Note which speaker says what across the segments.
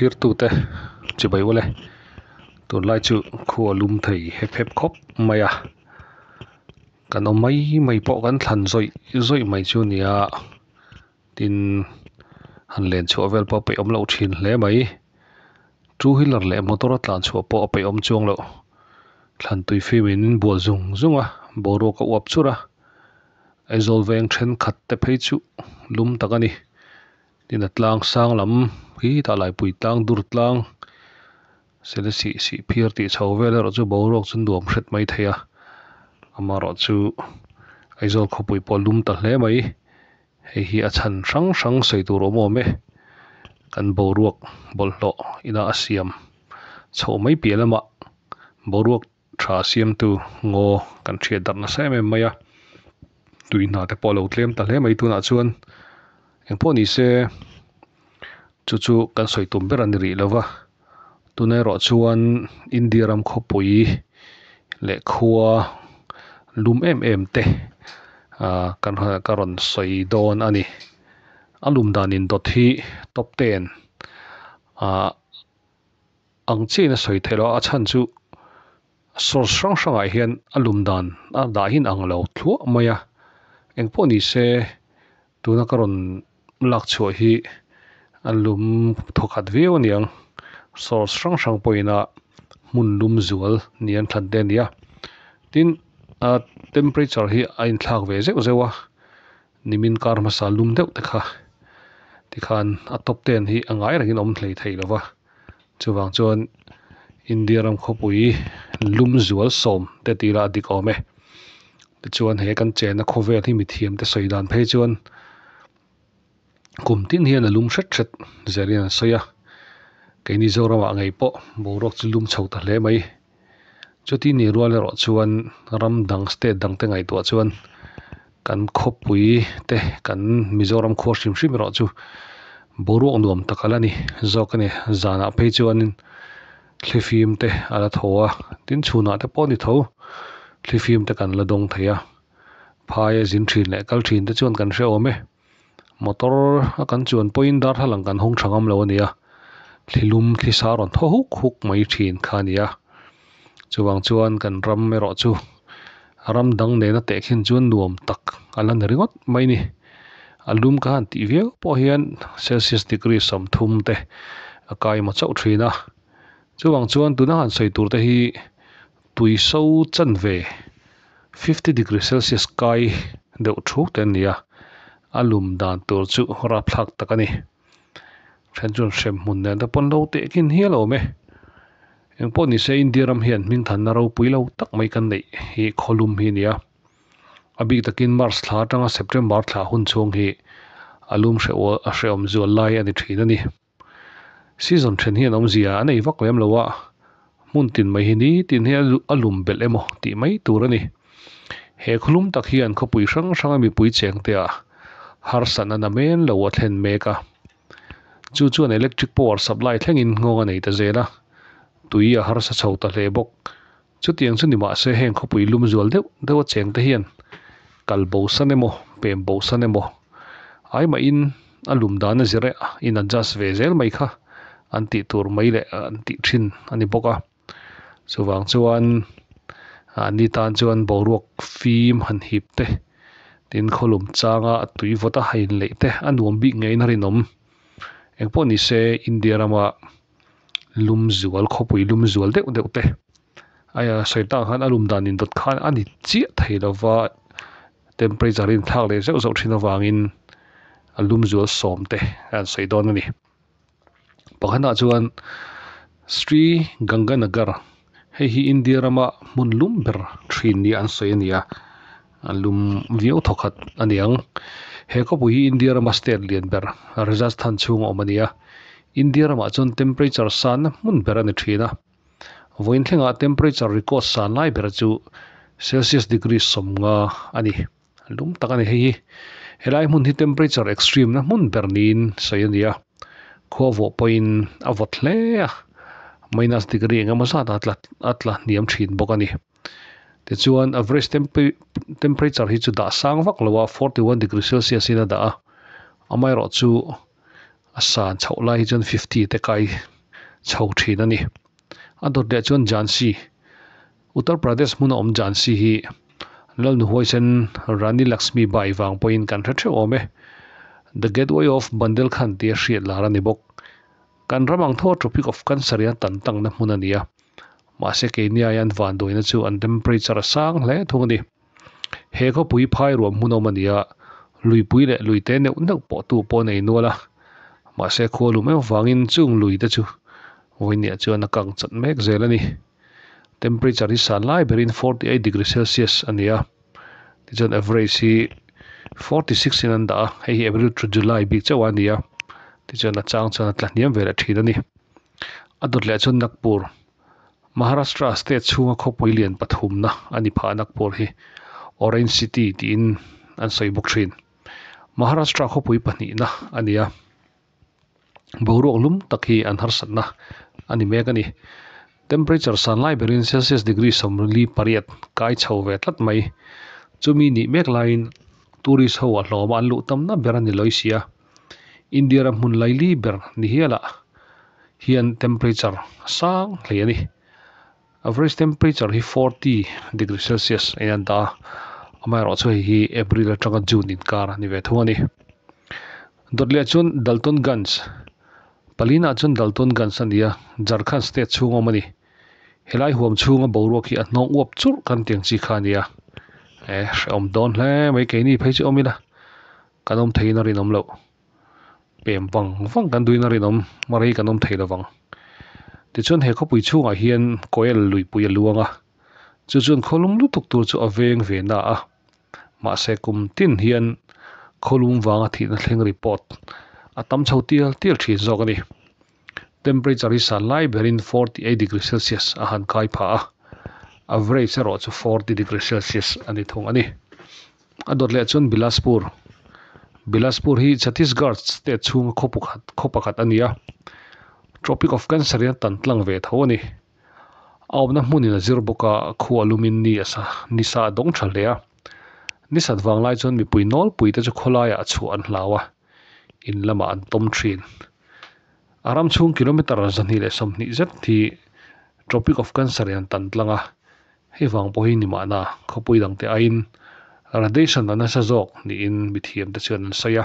Speaker 1: Thlirtute, Chibai ula e. Tunlai chu khu a lum thei hep hep khawp mai a. Kan awm mai mai pawh kan thlan zawih zawih mai chu nia. Tin, han len chhuah vel pawh a peih awm loh thin hle mai. Two wheeler leh motor a tlan chhuah pawh a peih awm chuang loh. Thlantui fim in in bual zung zung a, boruak a uap chur a. Aizawl veng thenkhat te phei chu lum tak a ni. Dinatlang sang lam hi tah Laipui tlang dur tlang sele sih sih phir tih chho vel erawh chu boruak chu nuam hret mai thei a, amarawh chu Aizawl khawpui pawh lum ta hle mai. Hei hi a chhan hrang hrang sawi tur awm awm e. Kan boruak bawlhhlawh ina a siam chhoh mai piah lamah boruak Tha siamtu Ngaw kan hriat darh nasa em em mai a, tui hna te pawh a lo tlem ta hle mai tunah chuan eng pawh ni se chu chu kan sawi tum ber a ni rih lova, tun erawh chuan India ram khawpui leh khua lum em em te kan ka rawn sawi dawn a ni, a lum dan in dawt hi top ten ah. Ang chiahin a sawi theih lo a, a chhan chu source hrang hrangah hian a lum dan a dahin ang lo thluah mai a, engpawh ni se tuna ka rawn lakchhuah hi a lum thaw khat viau a niang, source hrang hrang pawhina hmun lum zual ni an thlan te a ni a, tin a temperature hi a inthlak ve zeuh zeuh a, Nimin kar hmasa lum deuh te kha tikhan a top ten hi a ngai rengin awm hlei thei lova, chuvang chuan India ram khawpui lum zual sawm te ti ila a dik awm e. Tichuan he kan chenna khawvel hi mithiam te sawi dan phei chuan kum tin hian a lum hret hret zir in an sawi a, kei Mizoramah ngei pawh boruak chu lum chho ta hle mai. Chuti nih rual erawh chuan ram dang, state dang te ngaihtuah chuan kan khawpui te, kan Mizoram khua hrim hrim erawh chu boruak nuam tak a la ni zawk a ni. Zanah phei chuanin thlifim te a la thaw a, tin chhunah te pawh ni tho thlifim te kan la dawng thei a. Phaia zin thin leh kal thin te chuan kan hre awm e. Motor a kan chuan pawhin darthlalang kan hawng tha ngam lo a nia, thlilum thlisa rawn thaw huk huk mai thin kha a nia. Chuvang chuan kan ram erawh chu ram dang nena teh khin chuan nuam tak a la ni ringawt mai ni. A lum ka han tih viau pawh hian Celsius degree sawmthum te a kai maw chauh thin a. Chuvang chuan tuna han sawi tur te hi Tui so chan ve, fifty degree celsius kai deuh thuk te an ni a, a lum dan tur chu rapthlak tak a ni. Then chuan hrem hmun nen te pawn lo teh khin hial awm e. Eng pawh ni se India ram hian hming thanna ropui lo tak mai kan neih hi khaw lum hi a ni a. A bik takin March thla atanga September thla hun chhung hi a lum hreh awm zual lai a ni thin a ni. Season then hi an awm zia a nei vak lem lo a, hmun tin mai hi nitin hi a lum belh em aw tih mai tur a ni. He khulum tak hian khawpui hrang hranga mipui chengtea harsatna na men lo a thlen mek a. Chu chuan electric power supply thlengin nghawng a nei ta zel a, tui a harsa chho ta hle bawk. Chutiang chu ni mahse heng khawpui lum zual deuh deuha cheng te hian kal bo san emaw pem bo san emaw ai mahin a lum dana zirah in adjust ve zel mai kha an tih tur mai leh an tih thin a ni bawk a. Chuvang chuan an ni tan chuan boruak fim han hip te, tin khawlum changa a tui vawt a, a inleih te a nuam bik ngeiin a rinawm. Engpawh nise India ramah lum zual khawpui lum zual deuh deuh te aiya sawitak khan a lum dan in dawt khan a ni chiah thei lo va temperature a inthlak leh zeuh zeuh thin avang in a lum zual sawm te a rawn sawi dawn a ni pakhat ah chuan Sri Ganganagar hei hi India ram a hmun lum ber thin niin an sawi a ni a. A lum viau thaw khat a ni ang. He khawpui hi India rama state lian ber Rajasthan chhunga awm a ni a. India ramah chuan temperature sanna hmun ber a ni thin a. Vawiin thlengah temperature record san lai bera chu Celsius degree sawmnga a ni. Lum tak a ni hei hi. Helai hmun hi temperature extreme na hmun ber niin sawi a ni a. Khuavawh pawhin a vawt hle a. Minus degree engemaw zat a tla a tla hniam thin bawk a ni. Tichuan, average temperature hi chu dah sang vak lo a, forty one degree celsius in a dah a. Amaherawh chu, a san chhoh lai hi chuan fifty te kai chho thin a ni. A dawt leh chuan Jhansi, Uttar Pradesh hmuna awm Jhansi hi Lalnu huaisen Rani Laxmi Bai vang pawhin kan hre theuh awm e. The Gateway of Bundelkhand tih a hriat lar a ni bawk. Kan ram ang thaw Tropic of Cancer-ian tan tangna hmun a ni a. Mahse keiniaia an van dawina chu an temperature a sang hle thung a ni. He khawpui phairuam hmunawm a nia, luipui leh luite neuh neuh pawhtu pawhin a inual a. Mahse khua lum em avangin chung luite chu vawinia chuan a kang chat mek zel a ni. Temperature hi sanlai berin forty eight degree celsius a nia. Tichuan average hi forty six in an dah a, hei hi April to July bik chauhah a ni a, tichuan a chang chuan a tla hniam ve leh thin a ni. A dawt leh chuan Nagpur, Maharashtra state chhunga khawpui lian pathumna a ni phah a Nagpur hi Orange City tiin an sawi bawk thin. Maharashtra khawpui pahnihna a ni a. boruak lum tak hi an harsatna a ni mek a ni. Temperature san lai berin Celsius degree sawmli pariat kai chho ve tlat mai. Chumi nih mek laiin tourist ho a hlawma an luh tamna ber a ni lawi sia. India-ra hmun laili ber ni hialah hian temperature sang hlei a ni. Average temperature hi forty degree celsius a ian ta a, amaherawh chu hei hi April atanga June inkar a ni ve thung a ni. Dawt leh chuan Daltonganj, palina chuan Daltonganj a ni a, Jharkhand state chhung a awm a ni. Helai huam chhunga boruak hi a hnawng uap churh kan tih ang chi kha a ni a. E, hrehawm dawn hle mai, keini phei chu awm ila kan awm theihin a rinawm lo. pem vang vang kan duin a rinawm rei kan awm thei lovang. Tichuan he khawpui chhungah hian Koel luihpui a luang a, chu chuan khawlum lutuk tur chu a veng ve na a. Mahse kum tin hian khawlum vanga thihna thleng report a tam chho tial tial thin zawk a ni. Temperature hi san lai berin forty eight degree celsius a han kai phah a, average erawh chu forty degree celsius a ni thung a ni. A dawt leh chuan Bilaspur. Bilaspur hi Chhattisgarh state chhunga khaw pakhat khaw pakhat a ni a, Tropic of Cancer in a tan tlang ve tho a ni. A awmna hmun in a zir bawk a, khu a lum in ni a sa ni sa a dawng tha hle a. Ni sat vang lai chuan mipui nawlpui te chu khaw laiah a chhuah an hlau a, in lamah an tawm thin. A ram chhung kilometre zahnih leh sawmhnih zet hi Tropic of Cancer-i an tan tlang a, hei vang pawh hi ni mahna khawpui dangte aiin radiation a nasa zawk niin mithiamte chuan an sawi a.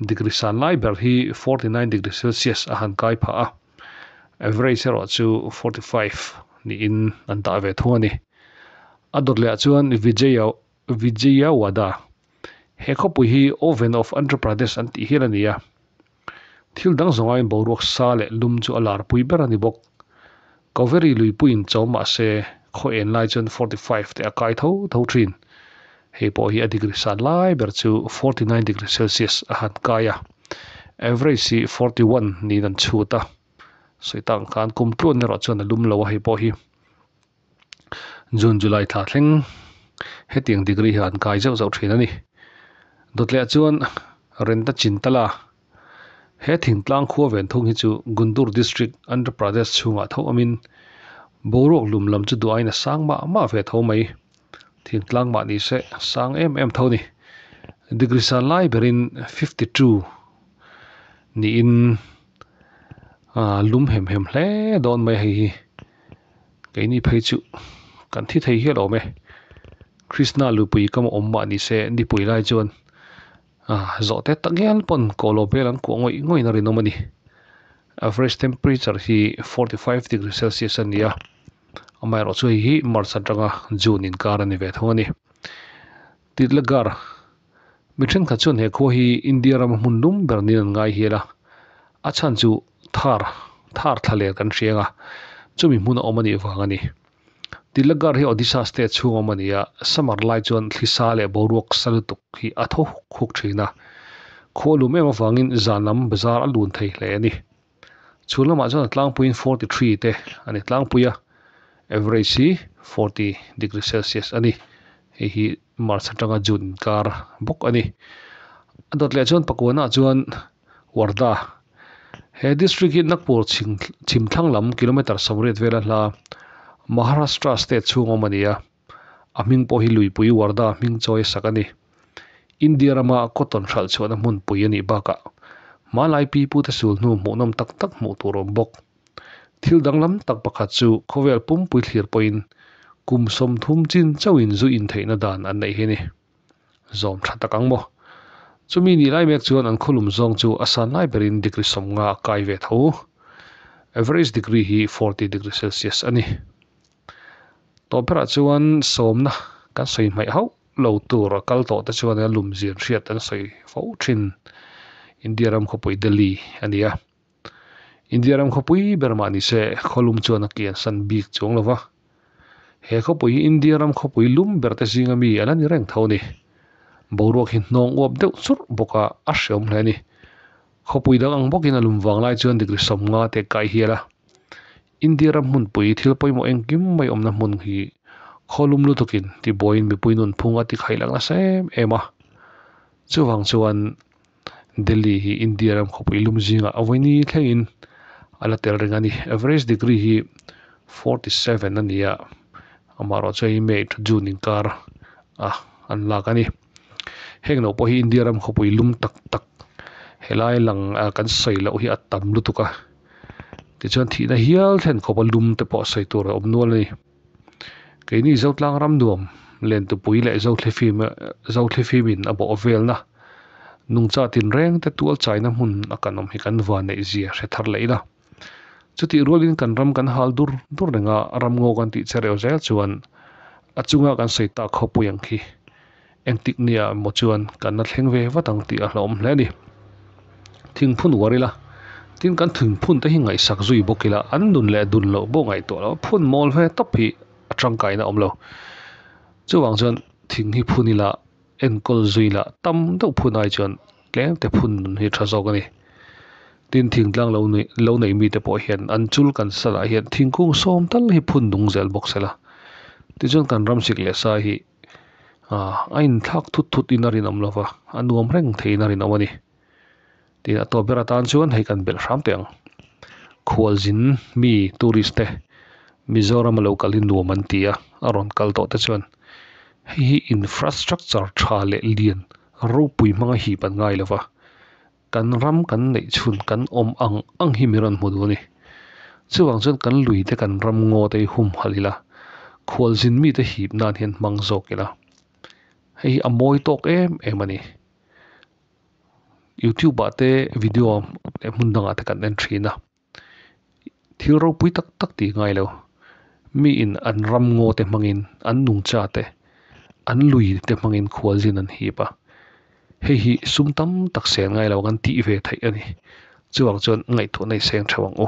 Speaker 1: Degree san lai ber hi forty nine degree celsius a han kai phah a, average erawh chu forty five niin an tah ve thung a ni. A dawt lehah chuan Vijay-a Vijaya Wada, He khawpui hi Oven of Andhra Pradesh an tih hial a ni a. Thil dang zawngain boruak sa leh lum chu a lar pui ber a ni bawk. Kaveri luipuiin chawm mah se, khaw en lai chuan forty five te a kai tho tho thin. Hei pawh hi a degree san lai ber chu forty nine degree Celsius a han kai a. Average hi forty one niin an chhut a. Sawi tak ang khan kum tluain erawh chuan a lum lo a hei pawh hi. June July thla thleng hetiang degree hi an kai zauh zauh thin a ni. Dawtleh chuan Renta Chintala he thingtlang khua ven thung hi chu Guntur District, Andhra Pradesh chhungah tho awmin boruak lum lam chu duain a sang mah mah ve tho mai. Thingtlang mah ni se sang em em tho ni. Degree sa lai berin fifty two niin lum hem hem hle dawn mai hei hi. Keini phei chu kan thi thei hial awm e. Krishna lupui ka mawh awm mah ni se nipui lai chuan zawhte ta ngial pawn kawhlo vel an kuah ngawih ngawih in a rinawm a ni. Average temperature hi forty five degree celsius a nia. Amaherawhchu hei hi March atanga June inkar a ni ve thung a ni. Titlagar Mi thenkhat chuan he khua hi India rama hmun dum ber niin an ngaihial a, a chhan chu Thar, Thar thla len kan hreng a, chumi hmun a awm anih vang a ni. Tilagarh hi Odisha state chhung a awm a ni a, summer lai chuan thlisa leh boruak sa lutuk hi a tho huk huk thin a, khua lum em avangin zan lam bazaar a lun thei hle a ni. Chu lamah chuan a tlangpuiin forty three te a ni. Tlangpuia average hi forty degree celsius a ni. Hei hi March atanga June inkar bawk a ni. A dawt leh chuan Pakuanah chuan Wardha he district hi Nagpur chhim thlang lam kilometre sawmriat vel a hla a. Maharashtra state chhung a awm a ni a. A hming pawh hi Luipui Warda hming chawi sak a ni. India rama cotton hralh chhuahna hmun pui a nih bakah hmalai pi pute sul hnu hmuhnawm tak tak hmuh tur awm bawk. Thil danglam tak pakhat chu khawvel pumpui thlir pawhin kum sawmthum chin chauhin zu intheihna dan an neih hi ni. Zawm tha tak ang maw? Chumi nih lai mek chuan an khawlum zawng chu a san lai berin degree sawmnga a kai ve tho. Average degree hi forty degree celsius a ni. Tawlhpharah chuan sawmna kan sawi hmaih hauh lo tur a kal tawh te chuan lum zian hriat an sawi fo thin India ram khawpui Delhi a ni a. India ram khawpui ber mah ni se khaw lum chuan a kian san bik chuang lo va. He khawpui hi India ram khawpui lum ber te zinga mi a la ni reng tho ni. Boruak hi hnawng uap deuh churh bawk a a hreawm hle a ni. Khawpui dang ang bawk in a lum vang lai chuan degree sawmnga te kai hial a. India ram hmunpui thil pawimawh engkim mai awmna hmun hi khawlum lutukin ti buaiin mipui nunphung a tikhailak nasa em em a. Chuvang chuan Delhi hi India ram khawpui lum zingah a vawi ni thlengin a la tel reng a ni. Average degree hi forty seven a ni a, amaherawhchu hei May to June inkar a an lak a ni. Heng lo pawh hi India ram khawpui lum tak tak helai lang a kan sawi loh hi a tam lutuk a, tichuan thihna hial thlen khawpa lum te pawh sawi tur a awm nual a ni. Keini Zotlang ram nuam lentupui leh Zothli fim Zothli fim in a bawh velna nungcha tinreng te tualchaina hmun a kan awm hi kan vaneihzia hre thar leh ila. Chutih rualin kan ram kan hal dur dur reng a, ram ngaw kan tih che reuh zel chuan a chunga kan sawi tak kho pui ang khi, engtik nia emaw chuan kan la thleng ve vat ang tih a hlawm hle a ni. Thingphun uar ila, tin kan thingphun te hi ngaihsak zui bawk ila, an nun leh dun loh bo ngaihtuah lo, phun mawl ve tawp hi a tangkaina awm lo. Chuvang chuan thing hi phun ila. Enkawl zui lah tam deuh phun ai chuan tlengte phun hi tha zawk a ni. Tin, thingtlang lo nuih lo neih mite pawh hian an chul kan sa lah hian thingkung sawm tal hi phun nung zel bawk se la. Tichuan kan ram sik leh sa hi a inthlak thut thut in a rinawm lova, a nuam reng thei in a rinawm a ni. tin a tawp ber atan chuan hei kan belh hram teh ang. Khualzin mi tourist te Mizoram a lo kalin nuam an ti a, a rawn kal tawh te chuan hei hi infrastructure tha leh lian ropui hmanga hip an ngai lova, kan ram kan neih chhun kan awm ang ang hi min rawn hmu duh a ni. Chuvang chuan kan lui te kan ram ngaw te hi hum halh ila, Khualzin mi te hip nan hian hmang zawk ila, hei hi a mawi tawk em em a ni. Youtube ah te video leh hmun dangah te kan en thin a, thil ropui tak tak ti ngai lo. Mi in an ram ngaw te hmang in an nung cha te, an lui te hmang in khual zin an hip a, hei hi sum tam tak sel ngai lo kan tih ve theih a ni. Chuvang chuan ngaihtuahna i seng theuh ang u.